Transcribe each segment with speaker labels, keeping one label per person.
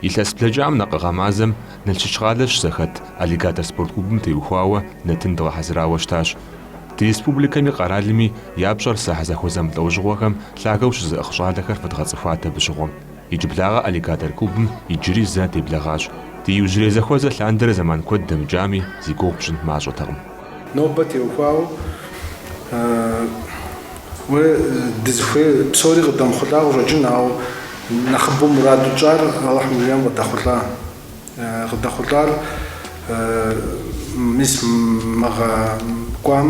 Speaker 1: Илъэс блэкӏам накъыгъэ мазэм Налшык къалэ щызэхэт Аллигатор спорт клубым теухуауэ нэтын дгъэхьэзырауэ щытащ. Ди республикэми къэралми я пщӏэр зэхьэзэхуэ зэмылӏэужьыгъуэхэм лъагэу щызыӏыгъ щӏалэхэр фэдгъэцӏыхуат абы щыгъуэм. Иджыблагъэ Аллигатор клубым иджыри зэ деблагъащ. Ди иужьрей зэхуэзэ лъандэрэ зэман куэд дэмыкӏами, зи гугъу пщӏын мащӏэтэкъым. Нобэ
Speaker 2: теухуауэ уэ дызыхуейр псори къыдэмыхъулӏа къыщӏэкӏын, ауэ нэхъыбэу мураду тщӏар Алыхьым жиӏэм къыдэхъулӏа. Къыдэхъулӏар мис мыгъэ кӏуам.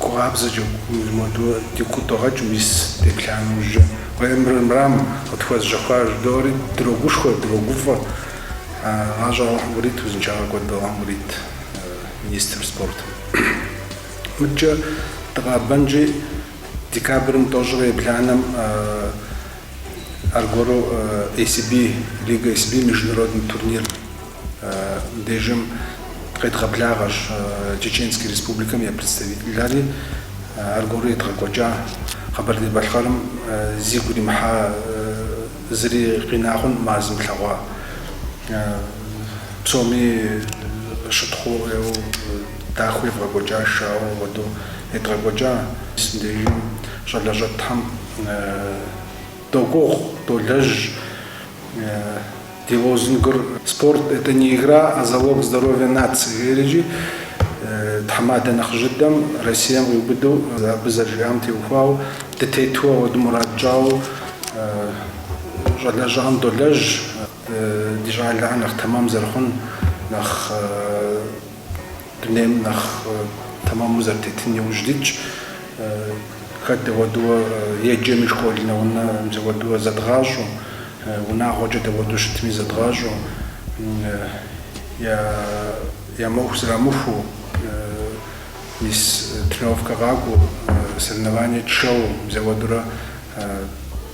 Speaker 2: Гу къабзэкӏэ моду ди кутӏыгъэкӏ мис деплъа нэужькӏэ уемрмрам къытхуэзжьэхуар жыдоӏэри дрогушхуэ, дрогуфӏэ. Гъащӏэ Алыхьым ирит узыншагъэ куэд Алыхьым ирит министр спортым. Мыдкӏэ дыкъабэнкӏи декабрым тӏощӏрэ ебланэм аргуэру ACB лигэ, ACB международный турнир. Мыбдежым къедгъэблагъэщ Чеченскэ Республикэм я представительхэри, аргуэру едгъэкӏуэкӏа Къэбэрдей-Балъкъэрым зигу иримыхьа зыри къинакъым ар зылъэгъуа псоми щытхъуу ӏейуэ дахэу евгъэкӏуэкӏа шоу хуэдэу едгъэкӏуэкӏа. Мыбдежым щӏалэ щӏэтхэм догугъу, долэжь. Ди лозунгыр Спорт, это не игра, а залог здоровья нации жери, тхьэмадэ нэхъыжь дыдэм, Россием къиубыдэу абы зэрыжиӏам теухуауэ, дытету ауэду мурад тщӏауэ щӏалэщӏэхэм долэжь, ди щӏалэхэр нэхъ тэмэм зэрыхъун, нэхъ Дунейм нэхъ тэмэму зэрытетын иужь дитщ. Хэт дауэду еджэми, школ нэунэ мис ауэду зэдгъащӏэу, унагъуэкӏэ дауэду щытми зэдгъащӏэу, я моху зрамыхуу, мис тренировкэ къакӏуэу, соревнование тшэу мис ауэдурэ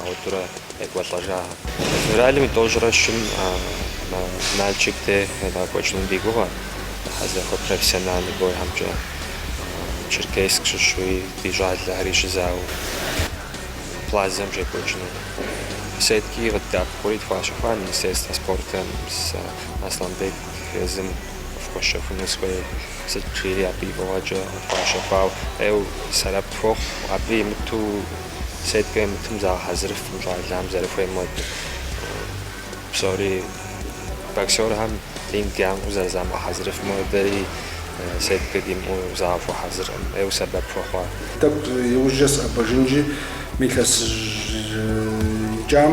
Speaker 3: Ауэдурэ екӏуэлӏэжа. Февралым и тӏощӏрэ щым Налшык деж едгъэкӏуэкӏыну ди гугъэ, зэхьэзэхуэ профессиональный бойхэмкӏэ Черкесск щыщуи, ди щӏалэхэри щызауэ Плазэм щекӏуэкӏыну. Сеткэ къыддэӏэпыкъури тхуащэхуа Министерствэ спортым сэ Аслъанбек езым къыфхуэщэхуну схуей, сыт жери абы и фӏыгъэкӏэ къытхуащэхуауэ. Ӏейуэ, сэбэп хуохъу, абы имыту сеткэ имытым загъэхьэзырыфкъым щӏалэм зэрыхуейм хуэдэу. Псори боксерхэм ринг ямыӏэу зэрызамыгъэхьэзырыфым хуэдэри сеткэ димыӏэу загъэхуэхьэзыркъым, ӏейуэ сэбэп хуэхъуа. Тӏэкӏу
Speaker 2: иужькӏэ сыӏэбэжынщи, мы илъэсым и кӏэм.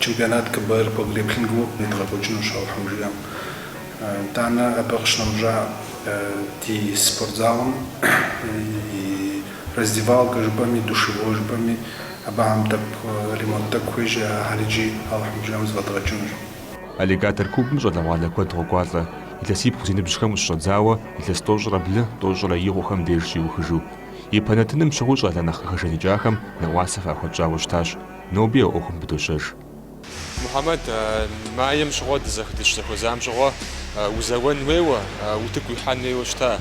Speaker 2: Чемпионат КБР по грэпплингу едгъэкӏуэкӏынущ Алыхьым жиӏэм. Итӏанэ абы къыщынэмыщӏа ди спортзалым и раздевалкэ жыпӏэми, душевой жыпӏэми абыхэм тӏэкӏу ремонт тӏэкӏу хуейщ, ахэр иджы Алыхьым жиӏэм зэфӏэдгъэкӏынущ.
Speaker 1: Аллигатор клубым щӏалэгъуалэ куэд къокӏуалӏэ, илъэсибгъу зи ныбжьхэм щыщӏэдзауэ илъэс тӏощӏрэ блы, тӏощӏрэ и хъухэм деж щиухыжу. Ипэ нэтыным щыгъуи щӏалэ нэхъ къыхэжаныкӏахэм нэӏуасэ фахуэтщӏауэ щытащ. Ноби а ӏуэхум пыдощэж. Мухьэмэд,
Speaker 4: Маем щыгъуэ дызэх дыщызэхуэзам щыгъуэ узэуэн хуейуэ, утыку уихьэн хуейуэ щыта?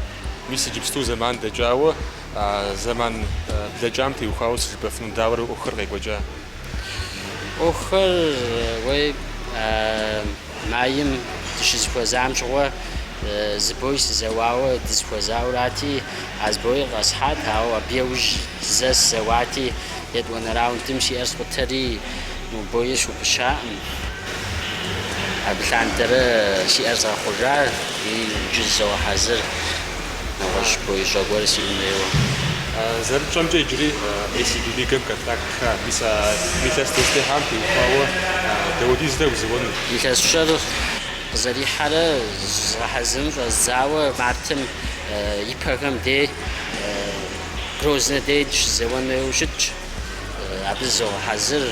Speaker 4: Мис иджыпсту зэман дэкӏауэ, зэман блэкӏам теухуауэ сыт жыпӏэфыну дауэрэ ӏуэхур къекӏуэкӏа?
Speaker 5: Ӏуэхур уей. Маем дыщызэхуэзам щыгъуэ зы бой сызэуауэ дызэхуэзауэрати, а зы боир къэсхьат, ауэ абы еужь зэ сызэуати, етӏуанэ раундым си ӏэр скъутэри, мы боир схупыщаӏым. Абы лъандэрэ си ӏэр згъэхъужа, иджы зызогъэхьэзыр. нэгъуэщӏ бой щӏэ гуэр сиӏэн хуейуэ.
Speaker 4: Зэрытщӏэмкӏэ, иджыри ACB лигэм контрактхэ мис а илъэс дызытехьам теухуауэ Дауди зытегу узэуэну. Илъэсыщӏэр
Speaker 5: къызэрихьэрэ зызгъэхьэзырын щӏэздзауэ мартым ипэхэм дей Грознэ дей сыщызэуэн хуейуэ щытщ. Абы зызогъэхьэзыр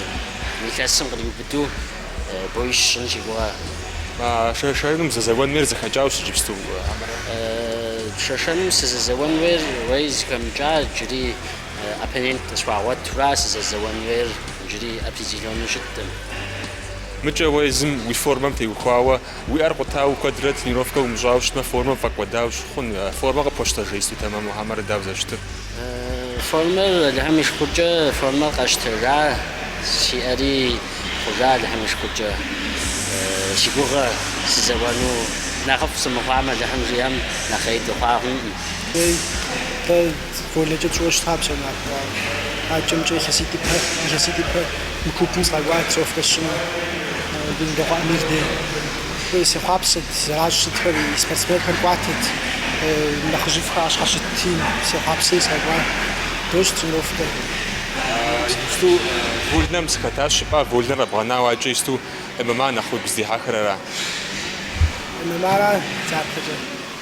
Speaker 5: мы илъэсым къриубыдэу. боищ сщӏын си гугъэ.
Speaker 4: Шэшэным узэзэуэн хуейр зэхэкӏауэ щыт иджыпсту? Шэшэным
Speaker 5: сызэзэуэн хуейр уей зыхэмыкӏа джыри оппонент къысхуагъуэтурэ сызэзэуэн хуейр джыри определеннэ щыттым. Мыкӏэ
Speaker 4: уэ езым уи формэм теухуауэ Уи ӏэр къутауэ куэдрэ тренировкэ умыщӏауэ щытмэ, формэр пфӏэкӏуэдауэ щыхъун. Формэ къыпхуэщтэжа исту тэмэму хьэмэрэ дауэ зэрыщытыр? Формэр,
Speaker 5: Алыхьым и шыкуркӏэ, формэр къэсщтэжа, си ӏэри хъужа, Алыхьым и шыкуркӏэ. Си гугъэ сызэуэну нэхъыфӏ сымыхъуам, Алыхьым жиӏэм, нэхъ ӏей дыхъуакъым.
Speaker 6: Вольнэкӏэ сщӏыуэ щыта псом ар хъуауэ. Адэкӏэмкӏэ илъэситӏ ипэ мы клубым сыкъэкӏуат сэ ӏуэху къэсщӏыну. Гулмбэкъуэ Амир дей. Фӏы сехъуапсэт, зэращӏ сытхэр и спортсменхэр кӏуатэт. Нэхъыжьыфӏхэ ӏэщхьэ щытти сехъуапсэри сыкъэкӏуат. Дощӏ
Speaker 4: тренировкэр. Иджыпсту вольнэм сыхэтащ жыпӏа, вольнэр къэбгъэнауэ адэкӏэ ищту ММА нэхъ уигу зыдихьэхыр ара?
Speaker 6: ММА-ра, дапэкӏэ?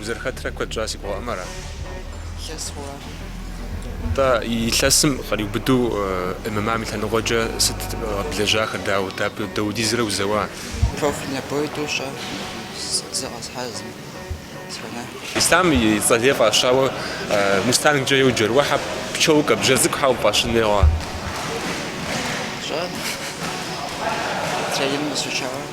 Speaker 4: Узэрыхэтрэ куэд щӏа си гугъэӏым ара?
Speaker 7: Илъэс хъуар.
Speaker 4: Тӏэ, илъэсым къриубыдэу ММА-м и лъэныкъуэкӏэ сыт къэблэжьахэр, дауэ, дапхуэдизрэ узэуа?
Speaker 7: Профессиональнэ бой тӏу сщӏа, зыр къэсхьа, зым сфэнэхкъым. Ислъам
Speaker 4: и цӏэ лей фӏащауэ Мустангкӏэ еу джэруэхьэ пчэу кабжэ цӏыкӏу хьэу фӏащын егъуа? Щӏэ, тренингым
Speaker 7: къысфӏащауэ.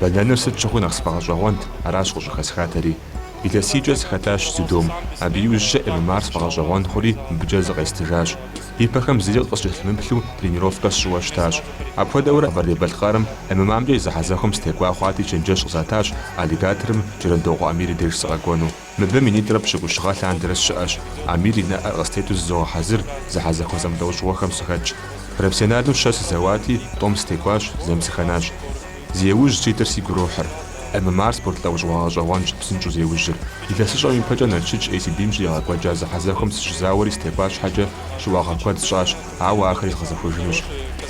Speaker 1: Бэнэныр сыт щыгъуи нэхъ сфӏэгъэщӏэгъуэнт, аращ къыщӏыхэсхатэри. Илъэсийкӏэ сыхэтащ дзюдом. Абы иужькӏэ ММА-р сфӏэгъэщӏэгъуэн хъури мыбыкӏэ зыкъестыжащ. Ипэхэм зыри къыскӏэлъымыплъу тренировкэ сщӏыуэ щытащ. Апхуэдэурэ Къэбэрдей-Балъкъэрым ММА-мкӏэ и зэхьэзэхуэм сытекӏуа хъуати чэнджэщ къызатащ Аллигаторым Джэрэндокъуэ Амир и деж сыкъэкӏуэну. Мыбы минитӏрэ пщыкӏущ гъэ лъандэрэ сщыӏэщ, Амир и нэӏэр къыстету зызогъэхьэзыр зэхьэзэхуэ зэмылӏэужьыгъуэхэм сыхэтщ. Профессионалу щэ сызэуати, тӏум сытекӏуащ, зэм сыхэнащ. Зи ужь ситыр сигу ирохьыр. ММА-р спорт лӏэужьыгъуэ гъэщӏэгъуэнщ псынщӏэу зеужьыр. Илъэсыщӏэм ипэкӏэ Налшык ACB-м щригъэкӏуэкӏа зэхьэзэхуэм сыщызауэри сытекӏуа щхьэкӏэ щыуагъэ куэд сщӏащ, ауэ ахэри згъэзэхуэжынущ.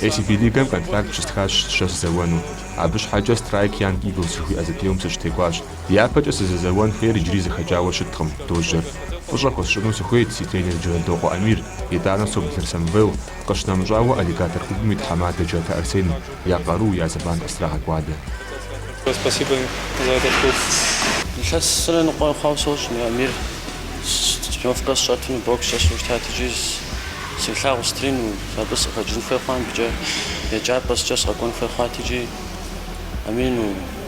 Speaker 1: ACB лигэм контракт щыстхащ щэ сызэуэну. Абы щхьэкӏэ Страйк Янг Иглс жыхуиӏэ зэпеуэм сыщытекӏуащ. Япэкӏэ сызэзэуэн хуейр иджыри зэхэкӏауэ щыткъым, дожьэр. Фӏыщӏэ хуэсщӏыну сыхуейт си тренер Джэрэндокъуэ Амир, итӏанэ Соблыр Самвел, къыщынэмыщӏауэ Аллигатор клубым и тхьэмадэ Джатэ Арсен, я къару, я зэман къыстрагъэкӏуадэ.
Speaker 5: Илъэс зырэ ныкъуэ хъуауэ сощӏ, мы Амир тренировкэ сщӏэтыну бокс щӏэсу щытат икӏи селъагъу стрину, абы сыкъыхэкӏын хуей хъуа мыбыкӏэ, еджапӏэ щхьэкӏэ сыкъэкӏуэн хуей хъуат икӏи амину.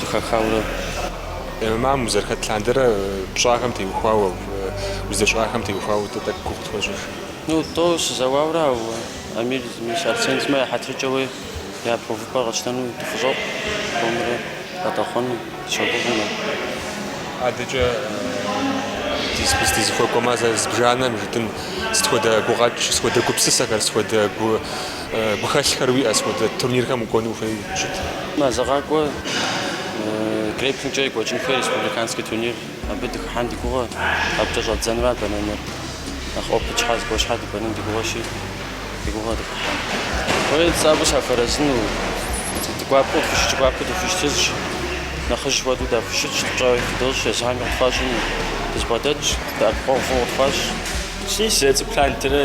Speaker 4: зыхахауэ. ММА-м узэрыхэт лъандэрэ пщӏахэм теухуауэ, уздэщӏахэм теухуауэ дэ тӏэкӏу и гугъу тхуэщӏыж. Ну, тӏо
Speaker 5: сызэуауэрэ, ауэ Амир сымэ, Арсен сымэ я хьэтыркӏэуи япэ увыпӏэр къэтщтэну дыхущӏокъу, томрэ къыдэхъулӏэну
Speaker 4: дыщогугъмэ. Адэкӏэ дызыхуэкӏуэмэ, зэ зыбжанэм жытӏэн, сыт хуэдэ гугъэкӏ, сыт хуэдэ гупсысэхэр, сыт хуэдэ гу, Гухэлъхэр уиӏэ, сыт хуэдэ турнирхэм укӏуэну ухуей щыт? Мазэ
Speaker 5: къакӏуэ грэпплингкӏэ екӏуэкӏын хуей республиканский турнир. Абы дыхыхьэн ди гугъэ, абыкӏэ щӏэддзэну ара бэнэныр. Нэхъ опыт щхьа зыгуэр щхьа дыбэнэн ди гугъэщи, ди гугъэ дыхыхьэн. Хуейр цӏакӏуэ сахуэарэзыну, гуапэу къытхущытщ, гуапэу дыхущытыжщ, нэхъыжь хуэдэу дахущытщ, пщӏэ фыдощӏ, езыхэми къытфащӏыну, дызэбгъэдэтщ, дэӏэпыкъуэгъу фӏыуэ къытфащӏ. Си зэцӏэ
Speaker 8: плантырэ.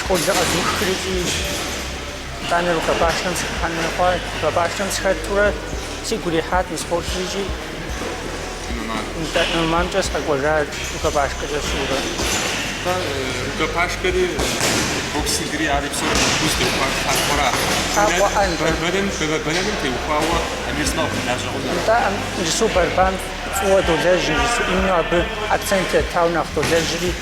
Speaker 9: Школыр къэзухри, итӏанэ рукопашным сыхыхьэну хъуат. Рукопашным сыхэтурэ сигу ирихьат мы спортыр икӏи ММА-мкӏэ сыкъэкӏуэжат, рукопашкэкӏэ сщӏыурэ. Рукопашкэри, боксингри ари
Speaker 4: псори нэхъыфӏу зытеухуар тхьэлъэӏуэра? Бэнэным теухуауэ Амир сымэ къыхуэлажьэ хъуну? Нтӏэ, иджысу
Speaker 9: борьбам фӏыуэ долэжь, иджысу именно абы акцент еттауэ нэхъ долэжьри.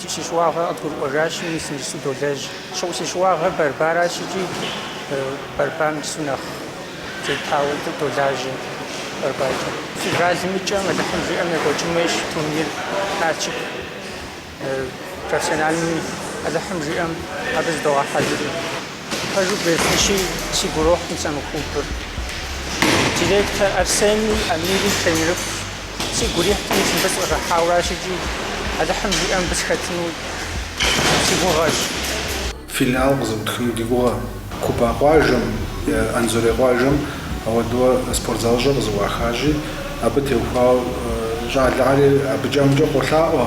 Speaker 9: Си щыуагъэ къыдгурыӏуэжащи, мис иджыпсту долэжь. Щыгъу си щыуагъэр борьба аращ икӏи борьбам иджысу нэхъ тетауэ дэ долажьэ борьбакӏэ. Февралым и кӏэм Алыхьым жиӏэм екӏуэкӏын хуейщ турнир Налшык профессиональными, Алыхьым жиӏэм абы зыдогъэхьэзыри. Пэжу бгъефыщи, сигу ирохь мис мы клубыр. Директор Арсенми, Амири тренерыфӏщ. Сигу ирихьт мис мыбы сыкъыщӏыхьауэ аращ икӏи Алыхьым жиӏэ мыбы сыхэтыну си
Speaker 2: гугъэщ. Филиал къызэӏутхыну ди гугъэ. Куба къуажэм е Анзорей къуажэм ауэдууэ спорт залыщӏэ къызэӏуахащи, абы теухуауэ щӏалэгъуалэри абыкӏэ-амыкӏэ къолъаӏуэ.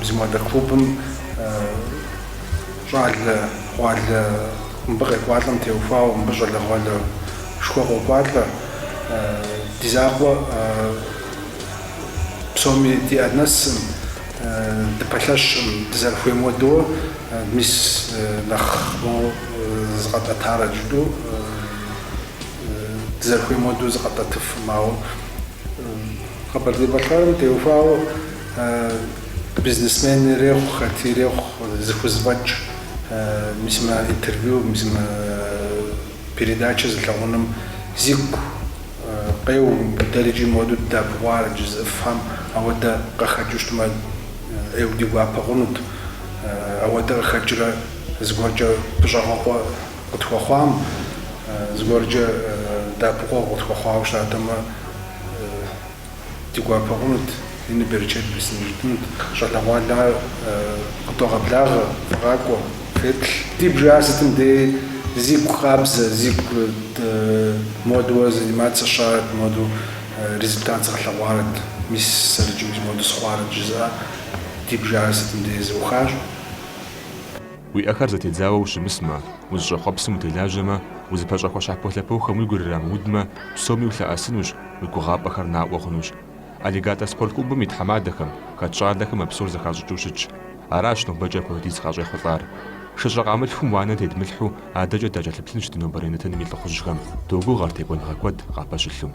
Speaker 2: Мис модэ клубым щӏалэгъуалэ, мыбы къекӏуалӏэм теухуауэ, мыбы щӏалэгъуалэшхуэ къокӏуалӏэ. Ди жагъуэ псоми ди ӏэ нэсым, дыпэлъэщым, дызэрыхуейм уэдуэ, мис нэхъ моуэ зыкъэтӏэтарэ жытӏэу, дызэрыхуейм уэдуэ зыкъэтӏэтыфым, ауэ. Къэбэрдей-Балъкъэрым теухуауэ бизнесмен ирехъу, хэти ирехъу, зыхузэфӏэкӏ мис мы интервью, мис мы передачэ зылъэгъуным зигу къеу. Дэри икӏи моду дадэӏэпыкъуарэт жызыӏэхэм, ауэдэ къахэкӏыу щытмэ, ӏейуэ ди гуапэ хъунут. Ауэдэ къахэкӏрэ зыгуэркӏэ щӏэгъэкъуэн. Къытхуэхъуам, зыгуэркӏэ дэӏэпыкъуэгъу къытхуэхъуауэ щытатэмэ, ди гуапэ хъунут, ину берычэт бесын жытӏэнут. Щӏалэгъуалэхэр къыдогъэблагъэ, фыкъакӏуэ, феплъ. Ди бжэр сытым дей зигу къабзэ, зигу модуэ заниматься сщӏарэт, моду результат згъэлъэгъуарэт, мис сэрыкӏыу, мис моду сыхъуарэт жызыӏэ, ди бжэр сытым дей зэӏухащ.
Speaker 1: Уи ӏэхэр зэтедзауэ ущымысмэ, узыщӏэхъуэпсым утелажьэмэ, узыпэщӏэхуэ щхьэполъэпохэм уи гур ирамыудмэ, псоми улъэӏэсынущ, уи гугъапӏэхэр наӏуэ хъунущ. Аллигатор спорт клубым и тхьэмадэхэм, хэт щӏалэхэм а псор зэхащӏыкӏыу щытщ. Аращ нобэкӏэ апхуэдиз къащӏехъулӏар. Шыщӏэ къамылъхум уанэ тедмылъхьэу адэкӏэ дакӏэлъыплъынщ ди нобэрей нэтыным и лӏыхъужьхэм. Догугъэр текӏуэныгъэ куэд къапэщылъу.